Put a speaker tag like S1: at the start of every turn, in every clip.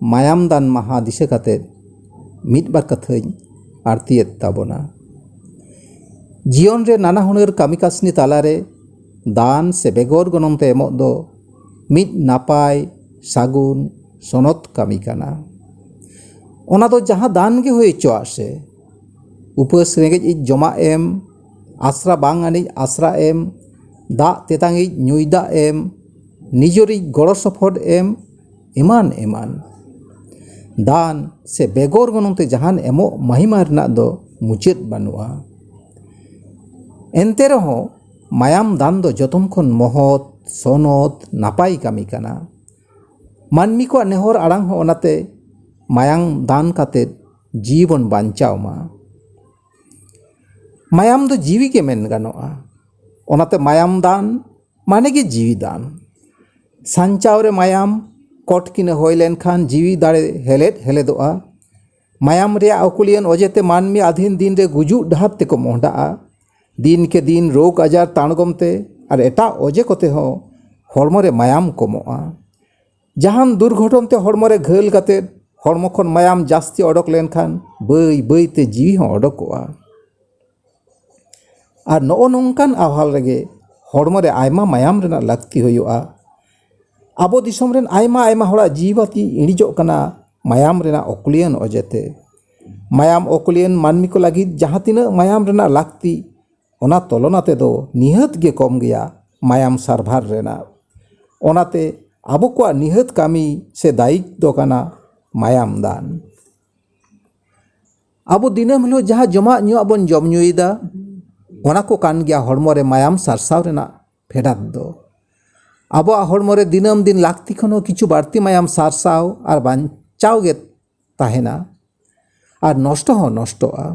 S1: ᱢᱟᱭᱟᱢ ᱫᱟᱱ ᱢᱟᱦᱟ ᱫᱤᱥᱟᱹ ᱠᱟᱛᱮ ᱢᱤᱫ ᱵᱟᱨ ᱠᱟᱛᱷᱟᱧ ᱟᱬᱛᱤᱭᱮᱫ ᱛᱟᱵᱚᱱᱟ ᱡᱤᱭᱚᱱ ᱨᱮ ᱱᱟᱱᱟ ᱦᱩᱱᱟᱹᱨ ᱠᱟᱹᱢᱤ ᱠᱟᱹᱥᱱᱤ ᱛᱟᱞᱟᱨᱮ ᱫᱟᱱ ᱥᱮ ᱵᱮᱜᱚᱨ ᱜᱚᱱᱚᱝ ᱛᱮ ᱮᱢᱚᱜ ᱫᱚ ᱢᱤᱫ ᱱᱟᱯᱟᱭ ᱥᱟᱹᱜᱩᱱ ᱥᱚᱱᱚᱛ ᱠᱟᱹᱢᱤ ᱠᱟᱱᱟ ᱚᱱᱟ ᱫᱚ ᱡᱟᱦᱟᱸ ᱫᱟᱱ ᱜᱮ ᱦᱩᱭ ᱦᱚᱪᱚᱣᱟᱜ ᱥᱮ ᱩᱯᱟᱹᱥ ᱨᱮᱸᱜᱮᱡ ᱤᱡ ᱡᱚᱢᱟᱜ ᱮᱢ ᱟᱥᱨᱟ ᱵᱟᱝ ᱟᱹᱱᱤᱡ ᱟᱥᱨᱟ ᱮᱢ ᱫᱟᱜ ᱛᱮᱛᱟᱝᱤᱡ ᱧᱩᱭ ᱫᱟᱜ ᱮᱢ ᱱᱤᱡᱮᱨᱤᱡ ᱜᱚᱲᱚ ᱥᱚᱯᱚᱦᱚᱫ ᱮᱢ ᱮᱢᱟᱱ ᱮᱢᱟᱱ ᱫᱟᱱ ᱥᱮ ᱵᱮᱜᱚᱨ ᱜᱚᱱᱚᱝ ᱛᱮ ᱡᱟᱦᱟᱱ ᱮᱢᱚᱜ ᱢᱟᱹᱦᱤᱢᱟ ᱨᱮᱱᱟᱜ ᱫᱚ ᱢᱩᱪᱟᱹᱫ ᱵᱟᱹᱱᱩᱜᱼᱟ ᱮᱱᱛᱮ ᱨᱮᱦᱚᱸ ᱢᱟᱭᱟᱢ ᱫᱟᱱ ᱫᱚ ᱡᱚᱛᱚᱱ ᱠᱷᱚᱱ ᱢᱚᱦᱚᱛ ᱥᱚᱱᱚᱛ ᱱᱟᱯᱟᱭ ᱠᱟᱹᱢᱤ ᱠᱟᱱᱟ ᱢᱟᱹᱱᱢᱤ ᱠᱚᱣᱟᱜ ᱱᱮᱦᱚᱨ ᱟᱲᱟᱝ ᱦᱚᱸ ᱚᱱᱟᱛᱮ ᱢᱟᱭᱟᱢ ᱫᱟᱱ ᱠᱟᱛᱮ ᱡᱤᱣᱤ ᱵᱚᱱ ᱵᱟᱧᱪᱟᱣ ᱢᱟ ᱢᱟᱭᱟᱢ ᱫᱚ ᱡᱤᱣᱤ ᱜᱮ ᱢᱮᱱ ᱜᱟᱱᱚᱜᱼᱟ ᱚᱱᱟᱛᱮ ᱢᱟᱭᱟᱢ ᱫᱟᱱ ᱢᱟᱱᱮ ᱜᱮ ᱡᱤᱣᱤ ᱫᱟᱱ ᱥᱟᱧᱪᱟᱣ ᱨᱮ ᱢᱟᱭᱟᱢ ᱠᱚᱴ ᱠᱤᱱᱟᱹ ᱦᱩᱭ ᱞᱮᱱᱠᱷᱟᱱ ᱡᱤᱣᱤ ᱫᱟᱲᱮ ᱦᱮᱞᱮᱫ ᱦᱮᱞᱮᱫᱚᱜᱼᱟ ᱢᱟᱭᱟᱢ ᱨᱮᱭᱟᱜ ᱟᱹᱠᱷᱩᱞᱤᱭᱟᱹᱱ ᱚᱡᱮ ᱛᱮ ᱢᱟᱹᱱᱢᱤ ᱟᱹᱫᱷᱤᱱ ᱫᱤᱱ ᱨᱮ ᱜᱩᱡᱩᱜ ᱰᱟᱦᱟᱨ ᱛᱮᱠᱚ ᱢᱚᱦᱰᱟᱜᱼᱟ ᱫᱤᱱ ᱠᱮ ᱫᱤᱱ ᱨᱳᱜᱽ ᱟᱡᱟᱨ ᱛᱟᱬᱜᱚᱢ ᱛᱮ ᱟᱨ ᱮᱴᱟᱜ ᱚᱡᱮ ᱠᱚᱛᱮ ᱦᱚᱸ ᱦᱚᱲᱢᱚ ᱨᱮ ᱢᱟᱭᱟᱢ ᱠᱚᱢᱚᱜᱼᱟ ᱡᱟᱦᱟᱱ ᱫᱩᱨᱜᱷᱚᱴᱚᱱ ᱛᱮ ᱦᱚᱲᱢᱚ ᱨᱮ ᱜᱷᱟᱹᱞ ᱠᱟᱛᱮ ᱦᱚᱲᱢᱚ ᱠᱷᱚᱱ ᱢᱟᱭᱟᱢ ᱡᱟᱹᱥᱛᱤ ᱚᱰᱚᱠ ᱞᱮᱱᱠᱷᱟᱱ ᱵᱟᱹᱭ ᱵᱟᱹᱭ ᱛᱮ ᱡᱤᱣᱤ ᱦᱚᱸ ᱚᱰᱚᱠᱚᱜᱼᱟ ᱟᱨ ᱱᱚᱜᱼᱚ ᱱᱚᱝᱠᱟᱱ ᱟᱣᱦᱟᱞ ᱨᱮᱜᱮ ᱦᱚᱲᱢᱚ ᱨᱮ ᱟᱭᱢᱟ ᱢᱟᱭᱟᱢ ᱨᱮᱱᱟᱜ ᱞᱟᱹᱠᱛᱤ ᱦᱩᱭᱩᱜᱼᱟ ᱟᱵᱚ ᱫᱤᱥᱚᱢ ᱨᱮᱱ ᱟᱭᱢᱟ ᱟᱭᱢᱟ ᱦᱚᱲᱟᱜ ᱡᱤᱣᱤ ᱵᱟᱹᱛᱤ ᱤᱬᱤᱡᱚᱜ ᱠᱟᱱᱟ ᱢᱟᱭᱟᱢ ᱨᱮᱱᱟᱜ ᱚᱠᱩᱞᱤᱭᱟᱹᱱ ᱚᱡᱮᱛᱮ ᱢᱟᱭᱟᱢ ᱚᱠᱩᱞᱤᱭᱟᱹᱱ ᱢᱟᱹᱱᱢᱤ ᱠᱚ ᱞᱟᱹᱜᱤᱫ ᱡᱟᱦᱟᱸ ᱛᱤᱱᱟᱹᱜ ᱢᱟᱭᱟᱢ ᱨᱮᱱᱟᱜ ᱞᱟᱹᱠᱛᱤ ᱚᱱᱟ ᱛᱚᱞᱚᱱᱟ ᱛᱮᱫᱚ ᱱᱤᱦᱟᱹᱛ ᱜᱮ ᱠᱚᱢ ᱜᱮᱭᱟ ᱢᱟᱭᱟᱢ ᱥᱟᱨᱵᱷᱟᱨ ᱨᱮᱱᱟᱜ ᱚᱱᱟᱛᱮ ᱟᱵᱚ ᱠᱚᱣᱟᱜ ᱱᱤᱦᱟᱹᱛ ᱠᱟᱹᱢᱤ ᱥᱮ ᱫᱟᱭᱤᱛ ᱫᱚ ᱠᱟᱱᱟ ᱢᱟᱭᱟᱢ ᱫᱟᱱ ᱟᱵᱚ ᱫᱤᱱᱟᱹᱢ ᱦᱤᱞᱳᱜ ᱡᱟᱦᱟᱸ ᱡᱚᱢᱟᱜ ᱧᱩᱣᱟᱜ ᱵᱚᱱ ᱡᱚᱢ ᱧᱩᱭᱮᱫᱟ ᱚᱱᱟ ᱠᱚ ᱠᱟᱱ ᱜᱮᱭᱟ ᱦᱚᱲᱢᱚ ᱨᱮ ᱢᱟᱭᱟᱢ ᱥᱟᱨᱥᱟᱣ ᱨᱮᱱᱟᱜ ᱯᱷᱮᱰᱟᱛ ᱫᱚ ᱟᱵᱚᱣᱟᱜ ᱦᱚᱲᱢᱚ ᱨᱮ ᱫᱤᱱᱟᱹᱢ ᱫᱤᱱ ᱞᱟᱹᱠᱛᱤ ᱠᱷᱚᱱ ᱦᱚᱸ ᱠᱤᱪᱷᱩ ᱵᱟᱹᱲᱛᱤ ᱢᱟᱭᱟᱢ ᱥᱟᱨᱥᱟᱣ ᱟᱨ ᱵᱟᱧᱪᱟᱣ ᱜᱮ ᱛᱟᱦᱮᱱᱟ ᱟᱨ ᱱᱚᱥᱴᱚ ᱦᱚᱸ ᱱᱚᱥᱴᱚᱜᱼᱟ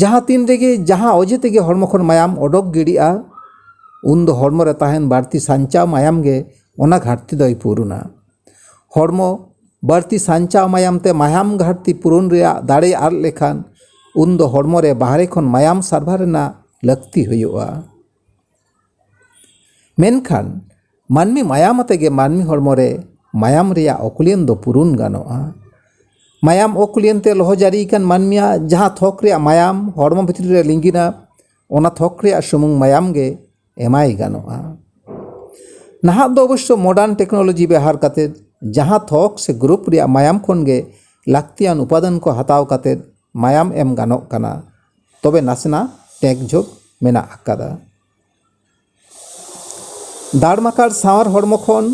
S1: ᱡᱟᱦᱟᱸ ᱛᱤᱱ ᱨᱮᱜᱮ ᱡᱟᱦᱟᱸ ᱚᱡᱮ ᱛᱮᱜᱮ ᱦᱚᱲᱢᱚ ᱠᱷᱚᱱ ᱢᱟᱭᱟᱢ ᱚᱰᱚᱠ ᱜᱤᱰᱤᱜᱼᱟ ᱩᱱ ᱫᱚ ᱦᱚᱲᱢᱚ ᱨᱮ ᱛᱟᱦᱮᱱ ᱵᱟᱹᱲᱛᱤ ᱥᱟᱧᱪᱟᱣ ᱢᱟᱭᱟᱢ ᱜᱮ ᱚᱱᱟ ᱜᱷᱟᱴᱛᱤ ᱫᱚᱭ ᱯᱩᱨᱩᱱᱟ ᱦᱚᱲᱢᱚ ᱵᱟᱹᱲᱛᱤ ᱥᱟᱧᱪᱟᱣ ᱢᱟᱭᱟᱢ ᱛᱮ ᱢᱟᱭᱟᱢ ᱜᱷᱟᱴᱛᱤ ᱯᱩᱨᱩᱱ ᱨᱮᱭᱟᱜ ᱫᱟᱲᱮ ᱟᱫ ᱞᱮᱠᱷᱟᱱ ᱩᱱ ᱫᱚ ᱦᱚᱲᱢᱚ ᱨᱮ ᱵᱟᱦᱨᱮ ᱠᱷᱚᱱ ᱢᱟᱭᱟᱢ ᱥᱟᱨᱵᱷᱟᱨ ᱨᱮᱱᱟᱜ ᱞᱟᱹᱠᱛᱤ ᱦᱩᱭᱩᱜᱼᱟ ᱢᱮᱱᱠᱷᱟᱱ ᱢᱟᱹᱱᱢᱤ ᱢᱟᱭᱟᱢ ᱟᱛᱮ ᱜᱮ ᱢᱟᱹᱱᱢᱤ ᱦᱚᱲᱢᱚ ᱨᱮ ᱢᱟᱭᱟᱢ ᱨᱮᱭᱟᱜ ᱚᱠᱩᱞᱤᱭᱚᱱ ᱫᱚ ᱯᱩᱨᱩᱱ ᱜᱟᱱᱚᱜᱼᱟ ᱢᱟᱭᱟᱢ ᱚᱠᱩᱞᱤᱭᱚᱱ ᱛᱮ ᱞᱚᱦᱚ ᱡᱟᱹᱨᱤ ᱟᱠᱟᱱ ᱢᱟᱹᱱᱢᱤᱭᱟᱜ ᱡᱟᱦᱟᱸ ᱛᱷᱚᱠ ᱨᱮᱭᱟᱜ ᱢᱟᱭᱟᱢ ᱦᱚᱲᱢᱚ ᱵᱷᱤᱛᱨᱤ ᱨᱮ ᱞᱤᱸᱜᱤᱱᱟ ᱚᱱᱟ ᱛᱷᱚᱠ ᱨᱮᱭᱟᱜ ᱥᱩᱢᱩᱝ ᱢᱟᱭᱟᱢ ᱜᱮ ᱮᱢᱟᱭ ᱜᱟᱱᱚᱜᱼᱟ ᱱᱟᱦᱟᱜ ᱫᱚ ᱚᱵᱚᱥᱥᱚ ᱢᱚᱰᱟᱨᱱ ᱴᱮᱠᱱᱳᱞᱚᱡᱤ ᱵᱮᱣᱦᱟᱨ ᱠᱟᱛᱮ ᱡᱟᱦᱟᱸ ᱛᱷᱚᱠ ᱥᱮ ᱜᱨᱩᱯ ᱨᱮᱭᱟᱜ ᱢᱟᱭᱟᱢ ᱠᱷᱚᱱ ᱜᱮ ᱞᱟᱹᱠᱛᱤᱭᱟᱱ ᱩᱯᱟᱫᱟᱱ ᱠᱚ ᱦᱟᱛᱟᱣ ᱠᱟᱛᱮ ᱢᱟᱭᱟᱢ ᱮᱢ ᱜᱟᱱᱚᱜ ᱠᱟᱱᱟ ᱛᱚᱵᱮ ᱱᱟᱥᱮᱱᱟᱜ ᱴᱮᱠ ᱡᱷᱳᱠ ᱢᱮᱱᱟᱜ ᱟᱠᱟᱫᱟ ᱫᱟᱲᱢᱟᱠᱟᱲ ᱥᱟᱶᱟᱨ ᱦᱚᱲᱢᱚ ᱠᱷᱚᱱ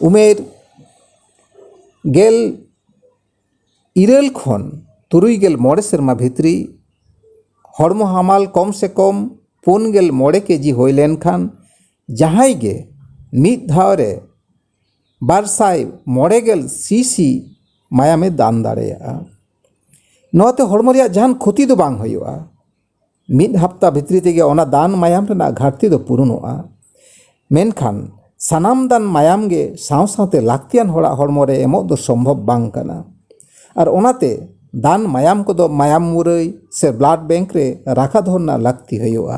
S1: ᱩᱢᱮᱨ ᱜᱮᱞ ᱤᱨᱟᱹᱞ ᱠᱷᱚᱱ ᱛᱩᱨᱩᱭ ᱜᱮᱞ ᱢᱚᱬᱮ ᱥᱮᱨᱢᱟ ᱵᱷᱤᱛᱨᱤ ᱦᱚᱲᱢᱚ ᱦᱟᱢᱟᱞ ᱠᱚᱢ ᱥᱮ ᱠᱚᱢ ᱯᱩᱱ ᱜᱮᱞ ᱢᱚᱬᱮ ᱠᱮᱡᱤ ᱦᱩᱭ ᱞᱮᱱᱠᱷᱟᱱ ᱡᱟᱦᱟᱸᱭ ᱜᱮ ᱢᱤᱫ ᱫᱷᱟᱣ ᱨᱮ ᱵᱟᱨ ᱥᱟᱭ ᱢᱚᱬᱮ ᱜᱮᱞ ᱥᱤᱥᱤ ᱢᱟᱭᱟᱢᱮ ᱫᱟᱱ ᱫᱟᱲᱮᱭᱟᱜᱼᱟ ᱱᱚᱣᱟᱛᱮ ᱦᱚᱲᱢᱚ ᱨᱮᱭᱟᱜ ᱡᱟᱦᱟᱱ ᱠᱷᱚᱛᱤ ᱫᱚ ᱵᱟᱝ ᱦᱩᱭᱩᱜᱼᱟ ᱢᱤᱫ ᱦᱟᱯᱛᱟ ᱵᱷᱤᱛᱨᱤ ᱛᱮᱜᱮ ᱚᱱᱟ ᱫᱟᱱ ᱢᱟᱭᱟᱢ ᱨᱮᱱᱟᱜ ᱜᱷᱟᱴᱛᱤ ᱫᱚ ᱯᱩᱨᱩᱱᱚᱜᱼᱟ ᱢᱮᱱᱠᱷᱟᱱ ᱥᱟᱱᱟᱢ ᱫᱟᱱ ᱢᱟᱭᱟᱢ ᱜᱮ ᱥᱟᱶ ᱥᱟᱶᱛᱮ ᱞᱟᱹᱠᱛᱤᱭᱟᱱ ᱦᱚᱲᱟᱜ ᱦᱚᱲᱢᱚ ᱨᱮ ᱮᱢᱚᱜ ᱫᱚ ᱥᱚᱢᱵᱷᱚᱵ ᱵᱟᱝ ᱠᱟᱱᱟ ᱟᱨ ᱚᱱᱟᱛᱮ ᱫᱟᱱ ᱢᱟᱭᱟᱢ ᱠᱚᱫᱚ ᱢᱟᱭᱟᱢ ᱢᱩᱨᱟᱹᱭ ᱥᱮ ᱵᱞᱟᱰ ᱵᱮᱝᱠ ᱨᱮ ᱨᱟᱠᱷᱟ ᱫᱚᱦᱚ ᱨᱮᱱᱟᱜ ᱞᱟᱹᱠᱛᱤ ᱦᱩᱭᱩᱜᱼᱟ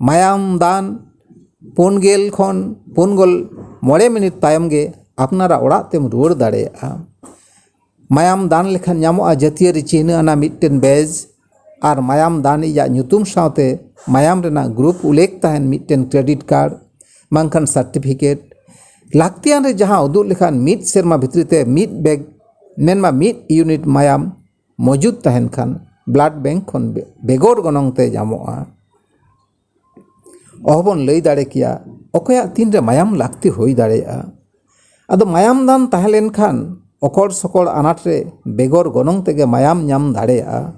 S1: ᱢᱟᱭᱟᱢ ᱫᱟᱱ ᱯᱩᱱ ᱜᱮᱞ ᱠᱷᱚᱱ ᱯᱩᱱ ᱜᱮᱞ ᱢᱚᱬᱮ ᱢᱤᱱᱤᱴ ᱛᱟᱭᱚᱢ ᱜᱮ ᱟᱯᱱᱟᱨᱟᱜ ᱚᱲᱟᱜ ᱛᱮᱢ ᱨᱩᱣᱟᱹᱲ ᱫᱟᱲᱮᱭᱟᱜᱼᱟ ᱢᱟᱭᱟᱢ ᱫᱟᱱ ᱞᱮᱠᱷᱟᱱ ᱧᱟᱢᱚᱜᱼᱟ ᱡᱟᱹᱛᱤᱭᱟᱹᱨᱤ ᱪᱤᱱᱦᱟᱹ ᱟᱱᱟᱜ ᱢᱤᱫᱴᱮᱱ ᱵᱮᱡᱽ ᱟᱨ ᱢᱟᱭᱟᱢ ᱫᱟᱱ ᱤᱡ ᱟᱜ ᱧᱩᱛᱩᱢ ᱥᱟᱶᱛᱮ ᱢᱟᱭᱟᱢ ᱨᱮᱱᱟᱜ ᱜᱨᱩᱯ ᱩᱞᱞᱮᱠᱷ ᱛᱟᱦᱮᱱ ᱢᱤᱫᱴᱮᱱ ᱠᱨᱮᱰᱤᱴ ᱠᱟᱨᱰ ᱵᱟᱝᱠᱷᱟᱱ ᱥᱟᱨᱴᱤᱯᱷᱤᱠᱮᱴ ᱞᱟᱹᱠᱛᱤᱭᱟᱱ ᱨᱮ ᱡᱟᱦᱟᱸ ᱩᱫᱩᱜ ᱞᱮᱠᱷᱟᱱ ᱢᱤᱫ ᱥᱮᱨᱢᱟ ᱵᱷᱤᱛᱨᱤ ᱛᱮ ᱢᱤᱫ ᱵᱮᱜᱽ ᱢᱮᱱᱢᱟ ᱢᱤᱫ ᱤᱭᱩᱱᱤᱴ ᱢᱟᱭᱟᱢ ᱢᱚᱡᱩᱫ ᱛᱟᱦᱮᱱ ᱠᱷᱟᱱ ᱵᱞᱟᱰ ᱵᱮᱝᱠ ᱠᱷᱚᱱ ᱵᱮᱜᱚᱨ ᱜᱚᱱᱚᱝ ᱛᱮ ᱧᱟᱢᱚᱜᱼᱟ ᱚᱦᱚ ᱵᱚᱱ ᱞᱟᱹᱭ ᱫᱟᱲᱮ ᱠᱮᱭᱟ ᱚᱠᱚᱭᱟᱜ ᱛᱤᱱ ᱨᱮ ᱢᱟᱭᱟᱢ ᱞᱟᱹᱠᱛᱤ ᱦᱩᱭ ᱫᱟᱲᱮᱭᱟᱜᱼᱟ ᱟᱫᱚ ᱢᱟᱭᱟᱢ ᱫᱟᱱ ᱛᱟᱦᱮᱸ ᱞᱮᱱᱠᱷᱟᱱ ᱚᱠᱚᱲ ᱥᱚᱠᱚᱲ ᱟᱱᱟᱴ ᱨᱮ ᱵᱮᱜᱚᱨ ᱜᱚᱱᱚᱝ ᱛᱮᱜᱮ ᱢᱟᱭᱟᱢ ᱧᱟᱢ ᱫᱟᱲᱮᱭᱟᱜᱼᱟ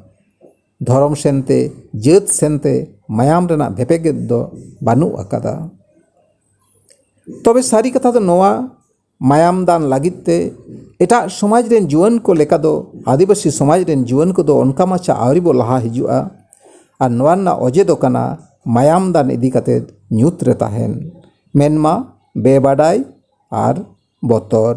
S1: ᱫᱷᱚᱨᱚᱢ ᱥᱮᱱ ᱛᱮ ᱡᱟᱹᱛ ᱥᱮᱱ ᱛᱮ ᱢᱟᱭᱟᱢ ᱨᱮᱱᱟᱜ ᱵᱷᱮᱯᱮᱜᱮᱫ ᱫᱚ ᱵᱟᱹᱱᱩᱜ ᱟᱠᱟᱫᱟ ᱛᱚᱵᱮ ᱥᱟᱹᱨᱤ ᱠᱟᱛᱷᱟ ᱫᱚ ᱱᱚᱣᱟ ᱢᱟᱭᱟᱢ ᱫᱟᱱ ᱞᱟᱹᱜᱤᱫ ᱛᱮ ᱮᱴᱟᱜ ᱥᱚᱢᱟᱡᱽ ᱨᱮᱱ ᱡᱩᱣᱟᱹᱱ ᱠᱚ ᱞᱮᱠᱟ ᱫᱚ ᱟᱹᱫᱤᱵᱟᱹᱥᱤ ᱥᱚᱢᱟᱡᱽ ᱨᱮᱱ ᱡᱩᱣᱟᱹᱱ ᱠᱚᱫᱚ ᱚᱱᱠᱟ ᱢᱟᱪᱷᱟ ᱟᱹᱣᱨᱤ ᱵᱚ ᱞᱟᱦᱟ ᱦᱤᱡᱩᱜᱼᱟ ᱟᱨ ᱱᱚᱣᱟ ᱨᱮᱱᱟᱜ ᱚᱡᱮ ᱫᱚ ᱠᱟᱱᱟ ᱢᱟᱭᱟᱢ ᱫᱟᱱ ᱤᱫᱤ ᱠᱟᱛᱮ ᱧᱩᱛ ᱨᱮ ᱛᱟᱦᱮᱱ ᱢᱮᱱᱢᱟ ᱵᱮᱵᱟᱰᱟᱭ ᱟᱨ ᱵᱚᱛᱚᱨ